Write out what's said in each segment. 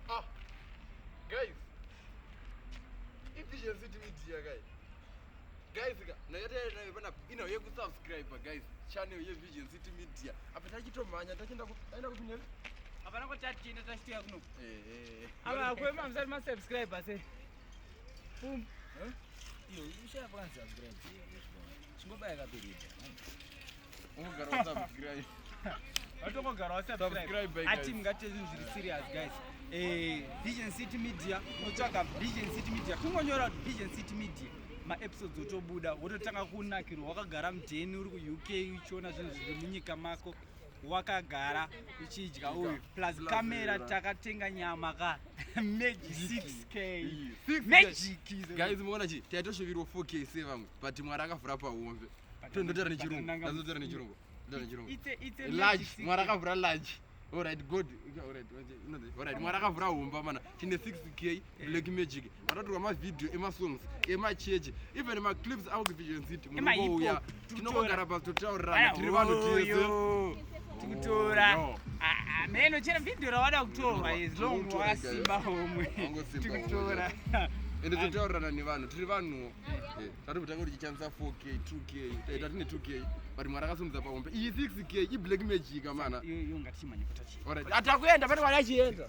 Ah, guys, efficiency to media guys. Guys, nayatayanayo pana ino yekusubscribe guys channel yevision city media apa tachitomhanya tachienda taenda kupinda hapana kwatatichienda tachitiya kuno eh, eh, eh. apa kwema musati masubscribe ase Boom. Huh? Yo, you should have answered great. Chingobaya kapirita. Ungogara usubscribe. Vatongogara wasubscribe. Ati mungate zvinhu zviri serious guys. Eh, Vision City Media, unotsvaga Vision City Media. Kungonyora Vision City Media. maepisodes otobuda wototanga kunakirwa wakagara mudheni uri kuuk uchiona zvinhu zviri munyika mako wakagara uchidya uyu plus camera takatenga nyama ka magic 6k magic guys muona chi taitoshuvirwa 4k se vamwe but mwari akavhura pahombe tondotaura nechirungu tondotaura nechirungu tondotaura nechirungu large mwari akavhura large Alright, good. Alright, alright. Mwari akavhura humba mana. Tine 6k black magic vatatorwa mavhidhiyo emasongs emachechi even maclips avo kuvision city munouya tinongogara pasi totaurirana tiri vanhu tese tikutora meno ah, ah, chero vhidhiyo rawada kutorwa as long wasimba homwe tikutora ende totaurirana nevanhu tiri vanhuwo eh, eh, tati kutanga kuti chichamisa 4k 2k taita tine 2k but mwari akasumudza pahombe iyi 6k iblack magic mana atakuenda pane wari achienda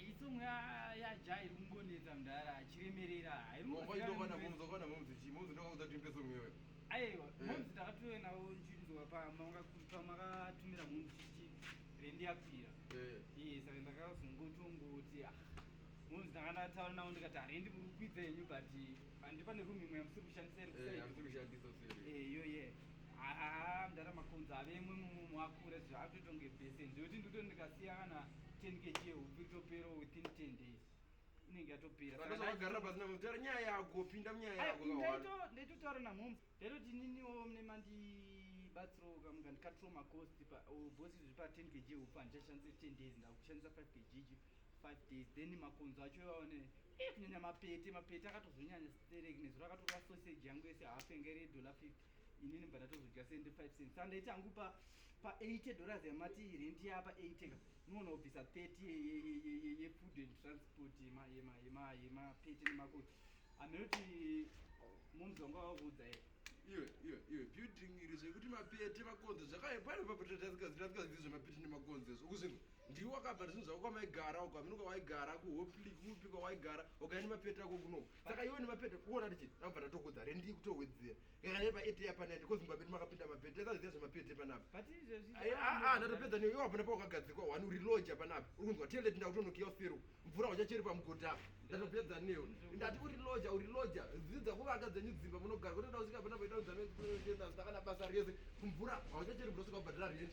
Iyi song ya ya Jai iri kungonetsa mdara achiremerera hairikuona momzi wakona momzi chi momzi ndokaudza kuti imbe song iyoyo aiwa eh. momzi takatove navo nzvinzwa pamakatumira momzi chichi rendi yapfira eh. iye saka ndakazongotongoti ah, momzi ndanga ndataura navo ndikati harendi muri kukwidza yenyu but pandi pane room imwe yamusiri kushandisa iriiyoye eh, yeah haa mdara makonzo ave imwe mumwe mwakura zvaakutotonge bese ndiyoti ndikuto ndikasiya kana 10 kg yehupfu itopera within 10 days inenge yatopera Saka zvakagarira pasi na mutara nyaya yako pinda munyaya Ai, yako kawana. ndaito- ndaitotaura namhoms ndaitoti ininiwo mune mandibatsirawo kamuka ndikatiro macost bosi zviri pa 10 kg hupfu handichashandise 10 days ndakushandisa 5 kg ichi 5 days then makonzo acho iwaone eh, kunyanya mapete mapete akatozonyanya sterek nezuro akatora sausage yangu yese half yanga iri yedola 50 inini bva ndatozodya 75 cents saka ndaiti angu pa pa 80 dollars yamati rent yapa 80 ka unoona kubvisa 30 yefood and transport yemapete nemakoti aminoti munzi wanga wakuudza here iwe iwe iwe building iri zvekuti mapete makonzo zvakaepari papatatasikazitasikazii zvemapete nemakonzo izvo ukuzvinhu ndiwe wakabva zvinhu zvako kwamaigara uko aminuka waigara kuhopli kupi kwawaigara ukaenda mapete ako kunoku saka iwe nemapedha kuona tichiti ndakubva ndatokudza rendi kutowedzera kakane paete yapanai because mumba medu makapinda mapedha taziva zvemapedha panapa aa ndatopedza newe iwapana pawakagadzikwa wani uri lodge panapa uri kunzwa tele tinda kutonokiya usiru mvura uchacheri pamugodha apa ndatopedza newe ndati uri lodge uri lodge dzidza kuvaka dzenyu dzimba munogara kutoda kusvika panapa itaudza meenda zita kana basa rese mvura hauchacheri mvura usika kubhadhara rendi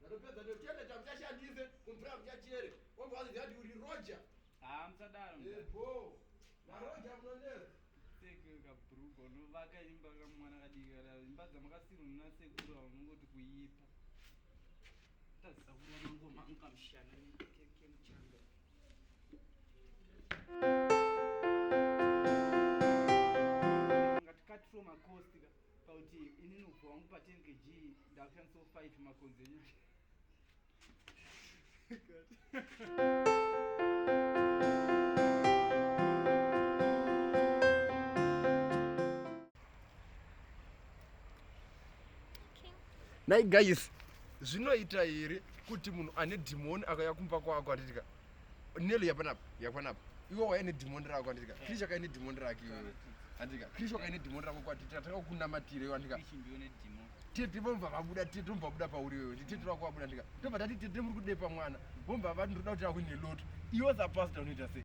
Ndakapedza ndochenda chamuchashandise kumvura muchachere. Omba wazi ndati uri Roger. Ah, msadaro. Yebo. Na Roger munonera. Seke ka brugo no vaka imba ka mwana ka dika la imba za makasiru na seke ndo ngoti kuyipa. Tasa kuona ngoma ngamshana ni keke mchanga. Ngatikati from a coast ka. Pauti ini nubva wangu pa 10 kg ndakushandisa 5 makonzi enyu. Nai guys, zvinoita here kuti munhu ane dhimoni akauya kumba kwako atitika Nelo yapanapa, yapanapa. Iwe waya ne demon rako kwandika. Krisha kai ne demon rako iwe. Andika. Krisha kai ne demon rako kwati tataka kunamatira iwe andika. Krisha ndiwe ne demon. Tete vomva vabuda tete vomva buda pauri iwe. Tete rako wabuda andika. Tobva tati tete muri kudepa mwana. Vomva vati ndoda kuti akune lot. Iwe za pastor unoita sei?